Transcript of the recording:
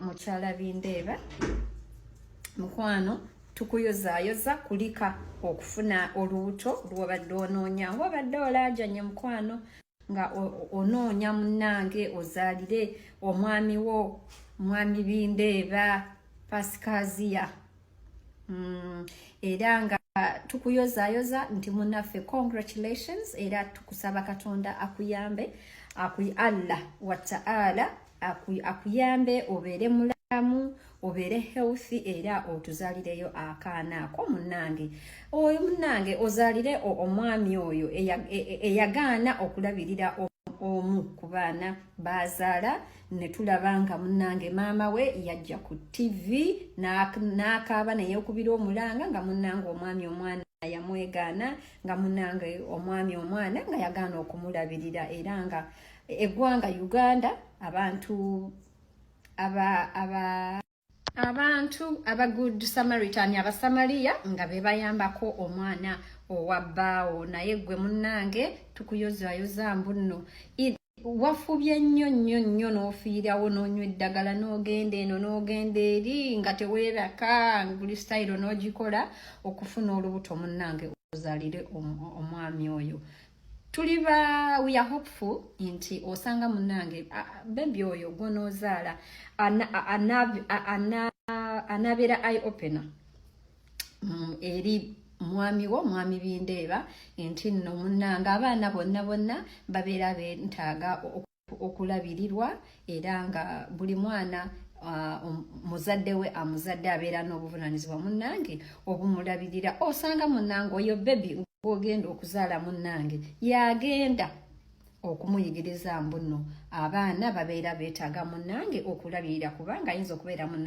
mukyala bindeeba mukwano tukuyozayoza kulika okufuna olubuto lwobadde onoonya nga obadde olaajanye mukwano nga onoonya munnange ozaalire omwami wo mwami bindeeba pasikaziya mm, era nga tukuyozayoza nti munaffe congratulations era tukusaba katonda akuyambe akuy allah wataala akuyambe obeere mulamu obeere healthy era otuzalireyo akaana ako munange oyo munange ozalire omwami oyo e, e, eyagaana okulabirira omu ku baana bazaala ne tulaba nga munnange maama we yajja ku ttivi n'akaaba ne yeekubira omulanga nga munnange omwami omwana yamwegaana nga munnange omwami omwana nga yagaana okumulabirira era nga eggwanga uganda abantu aba aba abantu aba good samaritan abasamaliya nga bebayambako omwana owa bbaawo naye gwe munnange tukuyozayoza mbunno wafubye nnyo nnyo nnyo n'ofiirawo n'onywa eddagala n'ogenda eno n'ogenda eri nga teweeraka buli sitayiro n'ogikola okufuna olubuto munnange ozalire omwami oyo tuli ba we are hopeful nti osanga munange bebi oyo gwonozaala anabeera i opener mm, eri mwami wo mwami bindeeba nti nno munange abaana bonna bonna babeera bentaaga okulabirirwa era nga buli mwana Ah, um, muzadde we amuzadde abeera n'obuvunanyizibwa munnange obumulabirira osanga munnange oyo bebi ogenda okuzaala munnange yagenda okumuyigiriza mbuno abaana babeera beetaaga munnange okulabirira kubanga ayinza okubeera munnange